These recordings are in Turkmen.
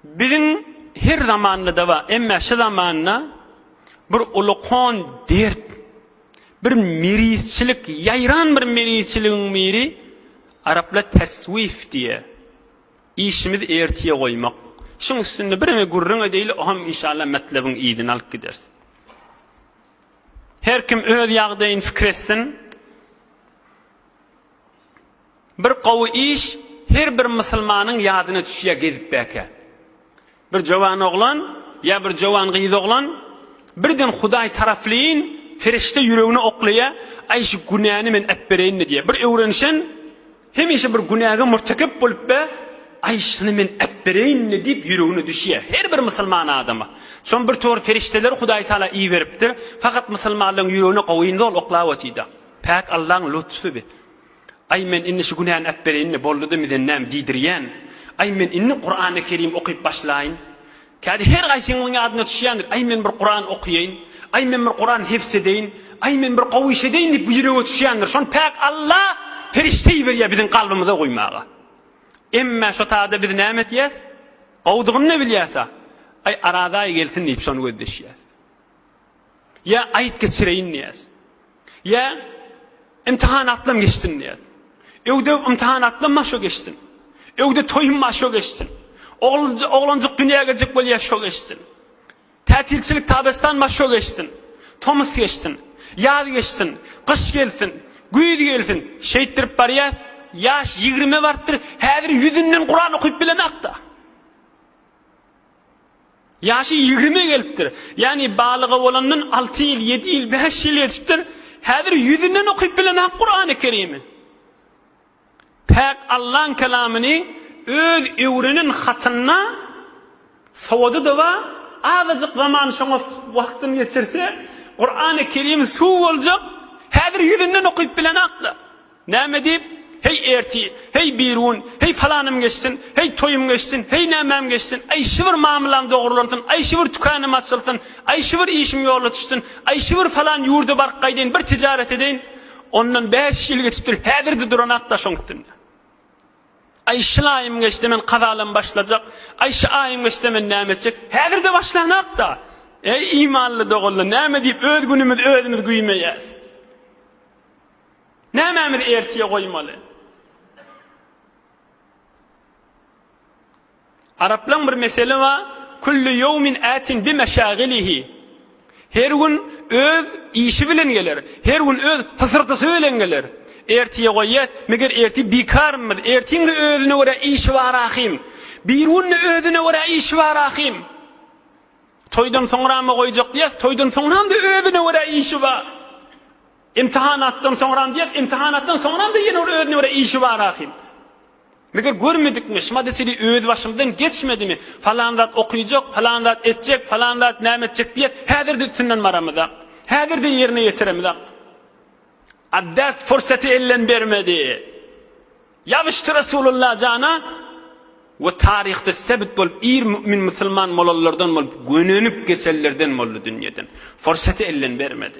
Biziň her zamanda-da bar, emma şu zamanda bir ulukan dert, bir merizçilik, ýaýran bir merizçiligiň biri araplar teswif diýýär. Işimizi ertiýe goýmak. Şuň üstünde bireme gürrüň edeýli, o hem inşallah metlebiň yzyny alyp gideris. Her kim öz ýagdaýyny pikir etsin. Bir gowy iş her bir musulmanyň ýadyna düşýär gezip bäkä. Bir jowan oglan ýa bir jowan gyz oglan birden Hudaý taraflyn perişde ýüregine oklaýa, aý şu günäni men äpbereýinmi diýýä. Bir öwrenişen hemişe bir günäge murtekep bolup be, aý şuny men äpbereýinmi diýip ýüregine düşýä. Her bir musulman adama. Şony bir tor perişdeleri Hudaý Taala iberipdir. Fakat musulmanlaryň ýüregine gowynda ol oklap otýda. Päk Allaň lutfy bi. Aý men indi şu günäni äpbereýin-de boldy-da miden näme diýdirýän. Aý men indi Kurany Kerim okyp başlaýyn. Kädi her gaýsyňyzyň ýadyna düşýändir, aý men bir Kuran okaýyn, aý men bir Kuran hepz edeýin, aý men bir gowy iş edeýin diýip bu ýürege düşýändir. Şony Päk Alla perişde iberýär biziň kalbymyza guýmaga. Emme şo tada biz näme etýäs? Gowudygyny-da bilýäs-a. Aý Araz aýy gelsin diýip şony gözleşýäs. Ýa aýt geçireýin diýýäs. Ýa imtihan atlam geçsin diýýäs. Öwde imtihan atlam maşo geçsin. Öwde toýum maşo geçsin. Oglanjyk oglanjyk dünýä geljek bolýar şo geçsin. Tätilçilik tabestan maşo geçsin. Tomus geçsin. Ýaz geçsin. Gyş gelsin. Güýz gelsin. Şeýtdirip barýas. Ýaş ýigrime barypdyr. Häzir ýüzünden Kuran okyp bilemok-da. Ýaşy ýigrime gelipdir. Ýagny balyga bolandan alty ýyl, ýedi ýyl, bäş ýyl geçipdir. Häzir ýüzünden okyp bilenok Kurany Kerimi. Päk Allaň kelamyny öz öwrenen hatynda sowady-da bar, azajyk zaman şoňa wagtyny geçirse, Kurany Kerim suw boljak, häzir ýüzünden okyp bilenok-da. Näme diýip, Heý, ertir, heý, birigün, heý, falanym geçsin, heý, toýum geçsin, heý, nämäm geçsin, aý, şibir mamylam dogrulansyn, aý, şibir tükänüm açylsyn, aý, şibir işim ýola düşsün, aý, şibir falan ýurda baryp gaýdaýyn, bir tijaret edeýin. Ondan bäş ýyl geçipdir, häzir-de duran-ak daşyň üstünde. Aý, şyl aýym geçse, men kazalam başlajak, aý, şy aýym geçse, men näme etjek? Häzir-de başlanak-da! Eý, imanly doganlar, näme diýip, öz günümizi özümiz güýmeýäs? Nämämizi ertire goýmaly? Araplaň bir meseli bar, Kullu ýowmin ätin bi meşagilihi, Her gün öz işi bilen geler, her gün öz hysyrdysy bilen geler. Ertire goýýas, meger ertir bikarmyz? Ertiň-de özüne görä işi bar ahym. Bir gün-de özüne görä işi bar ahym. Toýdan soňrama goýjak diýýas, toýdan soňram-da özüne görä işi bar. Imtihanatdan soňram diýýäs, imtihanatdan soňram-da ýene ol özüne görä işi bar ahym. Meger görmedikmi, şmady sili öz başymdan geçmedimi, falan zat okyjak, falan zat etjek, falan zat näme etjek diýýäs, häzir-de üstünden baramyza. Häzir-de ýerine ýetiremiza. Abdas pursaty elden bermedi. Ýabyşdy Resulullah jana we taryhda sebit bolup ir mu'min musulman bolanlardan bolup gönenip geçenlerden boldy dünýeden. Pursaty elden bermedi.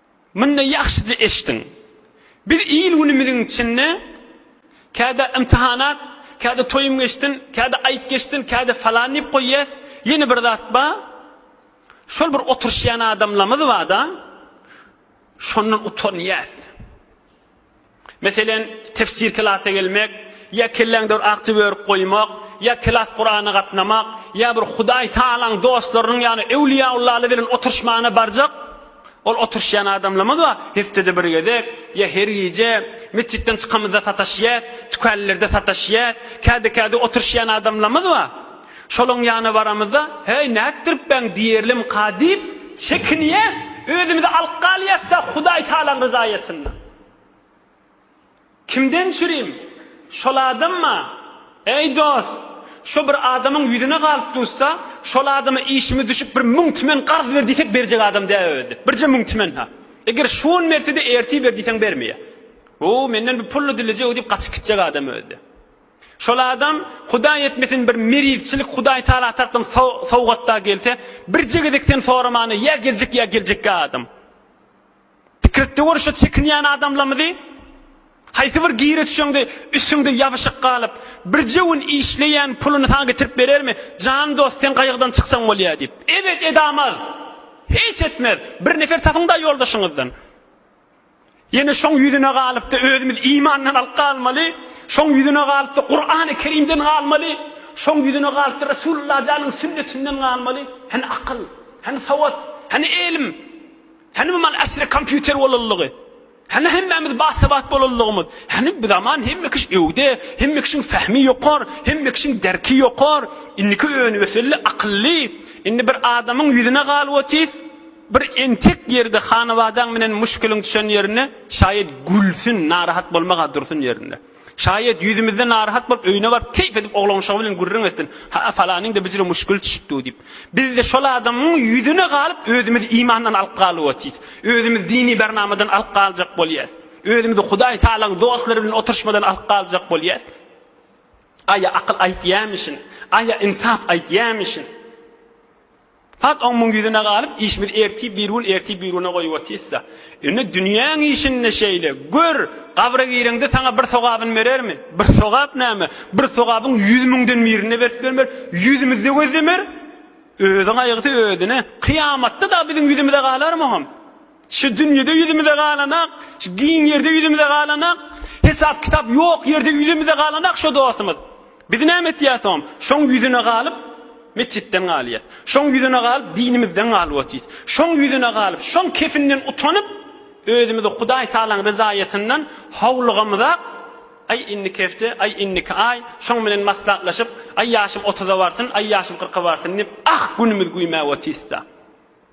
Munda ýagşyja eşdiň. Biz il-günümiziň içinde käde ymtyhanat, käde toýum geçsin, käde aýt geçsin, käde falan diýip goýýas, ýene bir zat ba, şol bir oturyşýan adamlamyz ba-da, şondan utanýas. Meselem, tefsir klasa gelmek, ýa kelläňdir akja börük goýmak, ýa klas Kurana gatnamak, ýa bir Hudaý Tagalaň dostlarynyň ýagny öwliýaullaly bilen oturyşmana barjak, ol oturyşýan adamlamyz bar, heftede bir gezek, ýa her gije, metjitden çykamyzda sataşýas, tükänlerde sataşýas, kädi kädi oturyşýan adamlamyz bar. Şolaň ýana baramyzda, Heý, nätdiripbäň diýerlimka diýip, çekinýäs, özümizi alyp galýasda Hudaý Tagalaň ryzaýetinde. Kimden çürim? Şol adamma? Eý, dost, şo bir adamyň ýüzüne galyp dursa, şol adama işimiz düşüp bir müň tümen garz ber diýsek berjek adam däl özde. Birje müň tümen-ha. Eger şu gün berse-de ertir ber diýseň bermeýär. O, menden bir pul-la dilejek-ow diýip gaçyp gitjek adam özde. Şol adam, Hudaý etmesin, bir merwçilik Hudaý Tagala tarapdan sowgat-da gelse, birje gezek sen soramana ýa geljek ýa geljekkä adam. Pikirtde görüşe çekinýän adamlarymyzy haýsy bir gire çüşeňde üstüňde ýabyşyk galyp, birje gün işleýän puluny saňa getirip berermi? Jan dost, sen gaýgydan çyksaň bolýa diýip. Ebet edamaz. Hiç etmez. Bir nefer tapyň-da ýoldaşyňyzdan. Ýene şoň ýüzüne galyp-da özümiz imandan alyp galmaly, şoň ýüzüne galyp-da Kurany Kerimden galmaly, şoň ýüzüne galyp-da Resulullah janyň sünnetinden galmaly. Hany akyl? Hany sowat? Hany elim? Hany bu mal asry kompýuter bolanlygy? Hany hemmämiz basabat bolanlygymyz? Hany bu zaman hemme kişi öwde, hemme kişiň fehmi ýokar, hemme kişiň derki ýokar, indiki önügeselli, akylly. Indi bir adamyň ýüzüne galyp otyr, bir entek ýerde hanabadaň bilen muşkiliň düşen ýerinde şaýat gülsün, narahat bolmag-a dursun ýerinde. Şaýat ýüzümizden narahat bolup, öýüne baryp, keýp edip oglanuşagy bilen gürrüň etsin, Ha-a, falanyň-da bijire muşküli düşüpdi-ow diýip. Biz-de şol adamyň ýüzüne galyp, özümizi imandan alyp galyp otyrys. Özümizi dini bernamadan alyp galjak bolýarys. Özümizi Hudaý Tagalaň dostlary bilen oturyşmadan alyp galjak bolýarys. Aý-a akyl aýtýarmyşyn, aý-a ynsap aýtýarmyşyn. Hak oňuň ýüzüne galyp, işimizi ertir bir gün, ertir bir güne goýup otyrys-da. Indi dünýäň işinde şeýle. Gör, gabra gireňde saňa bir sogabyny berermi? Bir sogap näme? Bir sogabyň ýüz müňden birini-de berip bilmer. Ýüzümizi-de gözlemer. Özi gaýgysy özüne. Kyýamatda dagy biziň ýüzümize galarmy oňam? Şu dünýede ýüzümize galanak, şu giň ýerde ýüzümize galanak, hesap-kitap ýok ýerde ýüzümize galanak şo dostumyz. Biz näme etýäs oň? Şoň ýüzüne galyp, metjitden galýas. Şoň ýüzüne galyp, dinimizden galyp otyrys. Şoň ýüzüne galyp, şoň kefinden utanyp, özümizi Hudaý Tagalaň ryzaýetyndan howlugamyzak, Aý, indiki hepde, aý, indiki aý, şoň bilen maslaklaşyp, aý, ýaşym otuza barsyn, aý, ýaşym kyrka barsyn diýip, ah, günümiz güýmäp otyrys-da.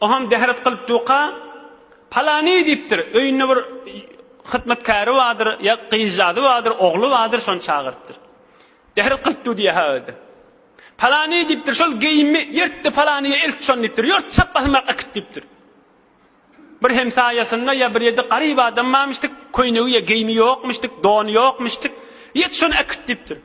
Oňam dehret kylyp duka, Palany diýipdir, öýünde bir hytmatkäri bardyr, ýa gyzjagazy bardyr, ogly bardyr, şony çagyrypdyr. Dehret kylyp dur diýýär ha özi. Palany diýipdir, şol geýimi ýyrt-da palanyja eltip şony diýipdir, ýyrt, çap basymrak äkit diýipdir. Bir hemsaýasynda ýa bir ýerde garyp adam barmyşdyk, köýnegi ýa geýimi ýokmuşdyk, dony ýokmuşdyk, ýet şony äkit diýipdir.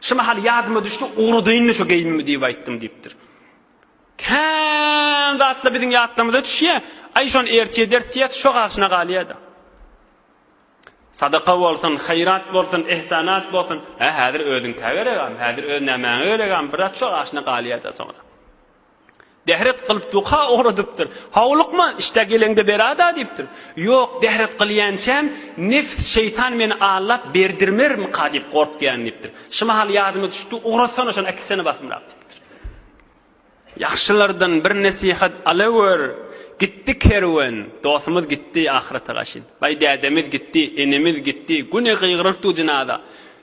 Şu mahal ýadyma düşdi, ugradynmy şu geýimimi diýip aýtdym diýipdir. Kän zatlar biziň ýatlarymyza düşýär. Aý şony ertir ederis diýýäs, şo garşyna galýar-da. Sadaka bolsun, haýrat bolsun, ihsanat bolsun. Hä, häzir özüňkä geregem, häzir öz nämäňe geregem, brat şo garşyna galýar-da soňra. Dehret kylyp duha ugradypdyr. Howlukma, işdä geleňde bera-da diýipdir. Ýok, dehret kylýançam, Nefs, şeýtan meni allap berdirmermika diýip gorkýan diýipdir. Şu mahal ýadyma düşdi, ugratsana şony äkitsene basymrak diýipdir. Ýagşylardan bir nesihat alawör. Gitdi kerwen, dostumyz gitdi ahyrata gaşyn. Baý dädemiz gitdi, enemiz gitdi, güni gygyrypdyk jynaza.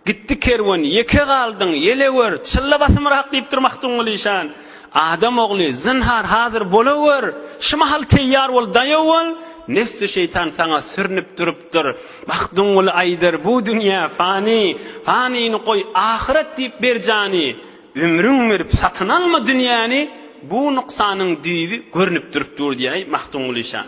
Gitdi kerwen, ýeke galdyň, ýelewer, çylla basymrak diýipdir Magtymguly işan. Adam ogly, zynhar, hazir bolawer, şu mahal teýýar bol, daýaw bol, nebsi şeýtan saňa sürnüp durupdyr. Magtymguly aýdar, bu dünýä fani, fanini goý, ahyret diýip ber jany, ömrüň berip satyn alma dünýäni, bu nuksanyň düýbi görnüp durup dur diýäý Magtymguly işan.